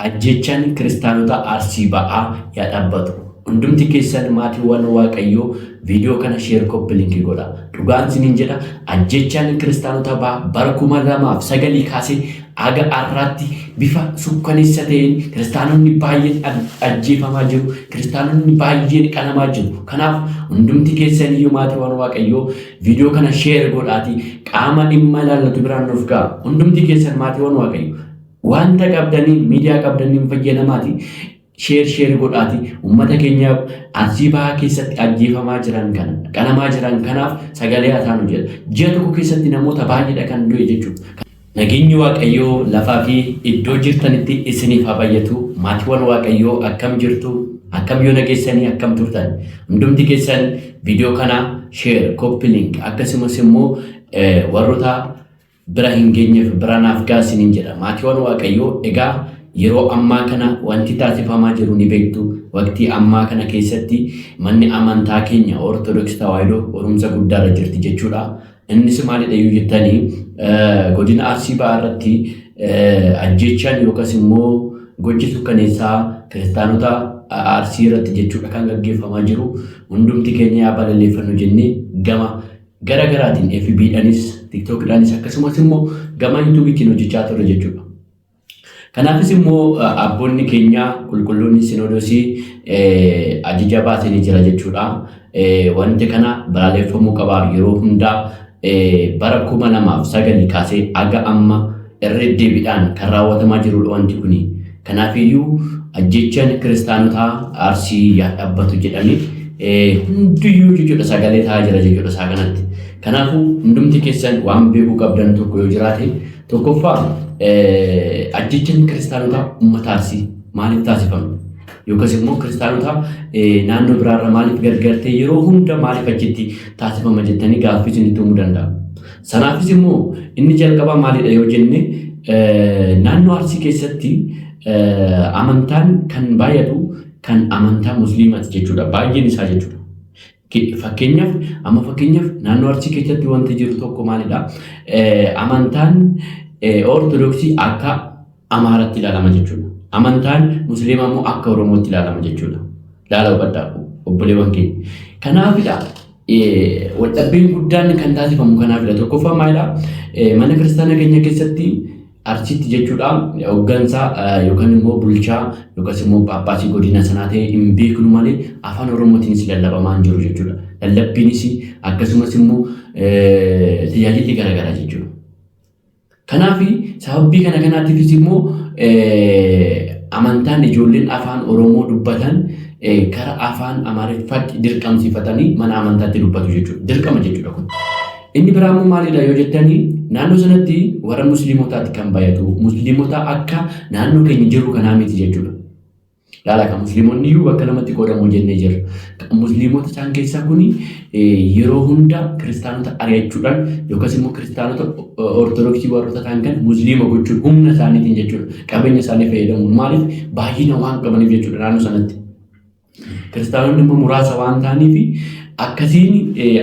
Ajjeechaan Kiristaanota Arsii Ba'aa yaa dhaabbatu. Hundumti keessan maatiiwwan Waaqayyoo video kana share copy link godha. Dhugaan sinin jedha ajjeechaan Kiristaanota Ba'aa bara 2009 kaasee haga arraatti bifa sukkaneessa ta'een Kiristaanonni baay'een ajjeefamaa jiru. Kiristaanonni baay'een qalamaa jiru. Kanaaf hundumti keessan iyyuu maatiiwwan Waaqayyoo video kana share godhaati qaama dhimma ilaallatu biraan nuuf ga'a. Hundumti keessan maatiiwwan Waaqayyoo Wanta qabdaniin miidiyaa qabdaniin fayyadamaati. Sheer sheer godhaati. Uummata keenya arsii bahaa keessatti ajjeefamaa jiran kana qalamaa jiran kanaaf sagalee haa taanu jedha. Ji'a tokko keessatti namoota baay'eedha kan du'e jechuudha. Nageenyi Waaqayyoo lafaa fi iddoo jirtanitti isiniif haa baay'atu. Maatiiwwan Waaqayyoo akkam jirtu? Akkam yoona keessanii akkam turtan? Hundumti keessan viidiyoo kana sheer, kooppi link akkasumas immoo warroota bira hin geenyeef bira naaf ga'a isiniin jedha. Maatiiwan Waaqayyoo egaa yeroo ammaa kana wanti taasifamaa jiru ni beektu. Waqtii ammaa kana keessatti manni amantaa keenya Ortodoks Tawaahidoo qorumsa guddaarra jirti jechuudha. Innis maalidha yoo jettanii godina Arsii Bahaa irratti ajjeechaan yookas immoo gochi sukkaneessaa kiristaanota Arsii irratti jechuudha kan gaggeeffamaa jiru. Hundumti keenya yaa balaleeffannu jennee gama gara garaatiin fb dhanis tiktok dhanis akkasumas immoo gama yuutuubiitiin hojjechaa turre jechuudha. Kanaafis immoo abboonni keenya qulqulloonni sinoodosii ajaja baasanii jira jechuudha. Wanti kana balaaleffamuu qaba yeroo hundaa bara kuma lamaaf sagalii kaasee aga amma irra deddeebiidhaan kan raawwatamaa jirudha wanti kuni. Kanaafiyyuu ajjechaan kiristaanotaa Arsii yaa dhabbatu jedhanii eh, hundiyyuu jechuudha sagalee ta'aa jira jechuudha isaa kanatti. Kanaafuu hundumti keessan waan beekuu qabdan tokko yoo jiraate tokkoffaa eh, ajjechaan kiristaanotaa uummata Arsii maaliif taasifame? Yookas immoo kiristaanota eh, naannoo biraarra maaliif gargartee yeroo hunda maaliif achitti taasifama jettanii gaaffii isinitti uumuu danda'a. Sanaafis immoo inni jalqabaa maalidha yoo jenne naannoo Arsii keessatti amantaan kan baay'atu kan amantaa musliimaati jechuudha. Baay'een isaa jechuudha. Fakkeenyaaf amma fakkeenyaaf naannoo Arsii keessatti wanti jiru tokko maalidha? Amantaan Ortodoksii akka Amaaratti ilaalama jechuudha. Amantaan Musliimaa immoo akka Oromootti ilaalama jechuudha. Laala hubadhaa obboleewwan keenya. Kanaafidha waldhabbiin guddaan kan taasifamu kanaafidha. Tokkoffaa maalidha? Mana kiristaana keenya keessatti arsiitti jechuudha hooggansaa yookaan immoo bulchaa yookaas immoo paappaasii godina sanaa ta'e hin beeknu malee afaan oromootiinis lallabamaa hin jiru jechuudha. Lallabbiinis akkasumas immoo tajaajilli garaagaraa jechuudha. Kanaaf sababbii kana kanaatiifis immoo amantaan ijoolleen afaan Oromoo dubbatan kara afaan Amaariffaatti dirqamsiifatanii mana amantaatti dubbatu jechuudha. Dirqama jechuudha kun. Inni biraa immoo maalidha yoo jettanii naannoo sanatti warra musliimotaatti kan bayatu musliimota akka naannoo keenya jiru kanaa miti jechuudha. Laala kan musliimonni iyyuu bakka lamatti qoodamu jennee jirra. Musliimota isaan keessaa kun yeroo hunda kiristaanota ari'achuudhaan yookaas immoo kiristaanota ortodoksii warroota ta'an kan musliima gochuun humna isaaniitiin jechuudha. Qabeenya isaanii fayyadamuun maaliif baay'ina waan qabaniif jechuudha naannoo sanatti. Kiristaanonni immoo muraasa waan ta'aniif akkasiin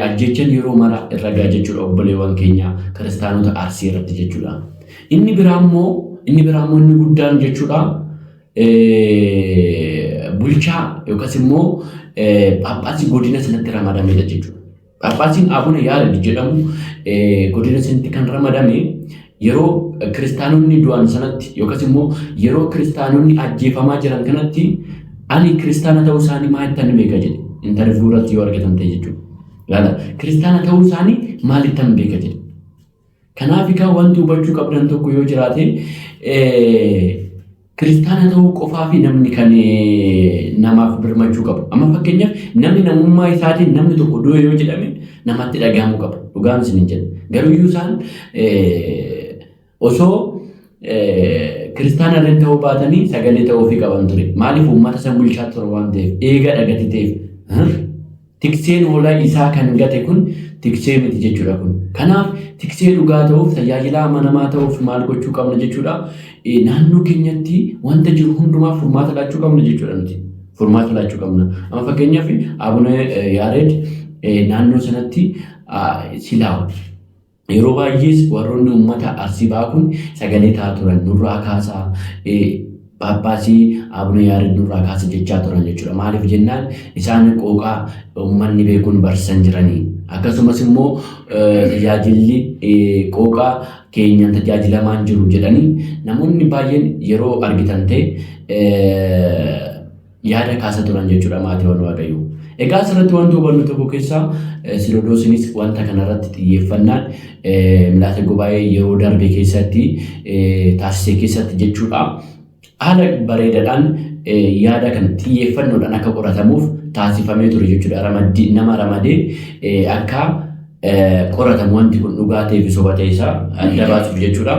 ajjechan yeroo mara irra ga'a jechuudha obboleewwan keenya kiristaanota arsii irratti jechuudha. Inni biraa immoo inni biraa immoo inni guddaan jechuudha. bulchaa yookaas immoo phaaphaasii godina sanatti ramadamedha jechuudha. Phaaphaasiin Abuna Yaared jedhamu godina sanatti kan ramadame yeroo kiristaanonni du'an sanatti yookaas immoo yeroo kiristaanonni ajjeefamaa jiran kanatti ani kiristaana ta'uu isaanii maalittan beeka jedhe intarviiyuu irratti yoo argatan ta'e jechuudha. Laala kiristaana ta'uu isaanii maalittan beeka jedhe. Kanaaf egaa wanti hubachuu qabdan tokko yoo jiraate kiristaana ta'uu qofaa fi namni kan namaaf birmachuu qabu. Amma fakkeenyaaf namni namummaa isaatiin namni tokko du'e yoo jedhame namatti dhagahamuu qaba. Dhugaan isin hin jedhu. Garuu iyyuu isaan osoo kiristaana illee ta'uu baatanii sagalee ta'uufii qaban ture. Maaliif uummata san bulchaa ture waan ta'eef eega dhagati ta'eef. Tikseen hoolaa isaa kan gate kun tiksee miti jechuudha kun. Kanaaf tiksee dhugaa ta'uuf tajaajilaa amanamaa ta'uuf maal gochuu qabna jechuudha. Naannoo keenyatti wanta jiru hundumaaf furmaata laachuu qabna jechuudha nuti. Furmaata laachuu qabna. Amma fakkeenyaaf Abuna Yaareed naannoo sanatti silaa Yeroo baay'ees warroonni uummata Arsii ba'aa kun sagalee ta'aa turan nurraa kaasaa Phaaphaasii Abuna Yaareed nurraa kaasa jechaa turan jechuudha. Maaliif jennaan isaan qooqaa uummanni beekuun barsiisan jiranii. Akkasumas immoo tajaajilli qooqaa keenyaan tajaajilamaan jiru jedhanii namoonni baay'een yeroo argitan ta'e yaada kaasa turan jechuudha maatiiwwan waaqayyoo. Egaa asirratti wanti hubannu tokko keessaa sinodoosinis wanta kanarratti xiyyeeffannaan milaasa gubaa'ee yeroo darbe keessatti taasise keessatti jechuudha. Haala bareedaadhaan yaada kan xiyyeeffannoodhaan akka qoratamuuf taasifamee ture jechuudha. Ramaddii nama ramadee akka qoratamu wanti kun dhugaa ta'ee fi soba ta'e isaa adda baasuuf jechuudha.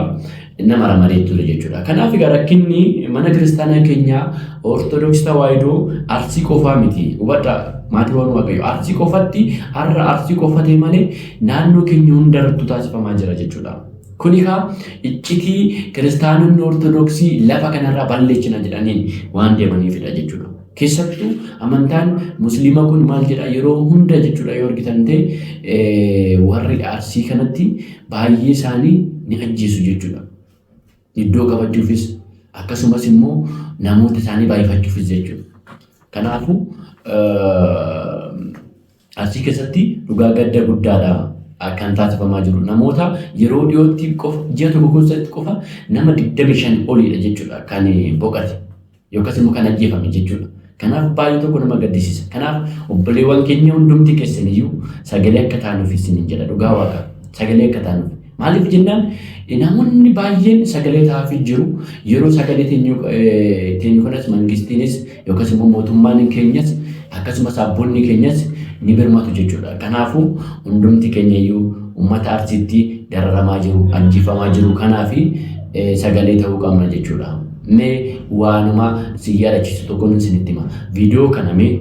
Nama ramadee ture jechuudha. Kanaaf egaa rakkinni mana kiristaanaa keenyaa Ortodoksii Tawaahidoo Arsii qofaa miti. Hubadhaa maatiiwwan Waaqayyoo Arsii qofatti har'a Arsii qofa ta'e malee naannoo keenya hundarrattuu taasifamaa jira jechuudha. Kun egaa iccitii kiristaanonni Ortodoksii lafa kanarraa balleessina jedhaniin waan deemaniifidha jechuudha. Keessattuu amantaan musliima kun maal jedha yeroo hunda jechuudha yoo argitan ta'e warri arsii kanatti baay'ee isaanii ni ajjeesu jechuudha. Iddoo qabachuufis akkasumas immoo namoota isaanii baay'ifachuufis jechuudha. Kanaafuu Arsii keessatti dhugaa gadda guddaadha kan taasifamaa jiru. Namoota yeroo dhiyootti qofa ji'a tokko keessatti qofa nama 25 oliidha jechuudha kan boqate yookas immoo kan ajjeefame jechuudha. Kanaaf baay'ee tokko nama gaddisiisa. Kanaaf obboleewwan keenya hundumti keessaniyyuu sagalee akka taanuuf isiniin jedha dhugaa waaqa sagalee akka taanuuf. Maaliif jennaan namoonni baay'een sagalee ta'aafii jiru. Yeroo sagalee teenyu teenyu kanas mangistiinis yookaas immoo mootummaan keenyas akkasumas abboonni keenyas ni birmatu jechuudha. Kanaafuu hundumti keenya iyyuu uummata Arsiitti dararamaa jiru, ajjeefamaa jiru kanaafi sagalee ta'uu qabna jechuudha. Mee waanuma si yaadachiisu tokkoon isinitti hima. Viidiyoo kana mee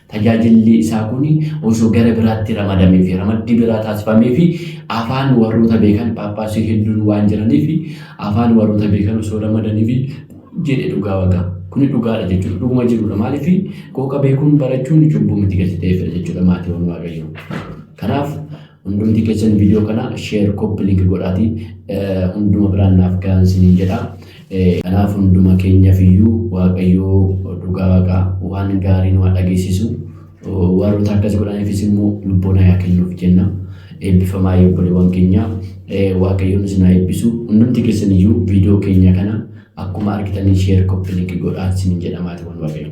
Tajaajilli isaa kun osoo gara biraatti ramadamee fi ramaddii biraa taasifamee fi afaan warroota beekan phaaphaasii hedduun waan jiranii fi afaan warroota beekan osoo ramadanii fi jedhe dhugaa waqa. Kuni dhugaadha jechuudha. Dhuguma jirudha. Maaliif qooqa beekuun barachuun cubbuu miti gadi ta'eefidha jechuudha maatiiwwan waaqayyoo. Kanaaf Hundumti keessan viidiyoo kana share copy link godhaati eh, hunduma biraan naaf gahan siniin jedha. Eh, Kanaaf hunduma keenyaaf iyyuu Waaqayyoo dhugaa waaqa waan gaarii nu haa dhageessisu. Oh, Warroota akkas godhaniifis immoo lubboon haa kennuuf jenna. Eebbifamaa obboleewwan keenya Eh, Waaqayyoon isin haa eebbisu. Hundumti keessan iyyuu viidiyoo keenya kana akkuma argitaniin share copy link godhaa siniin jedha maatiiwwan Waaqayyoo.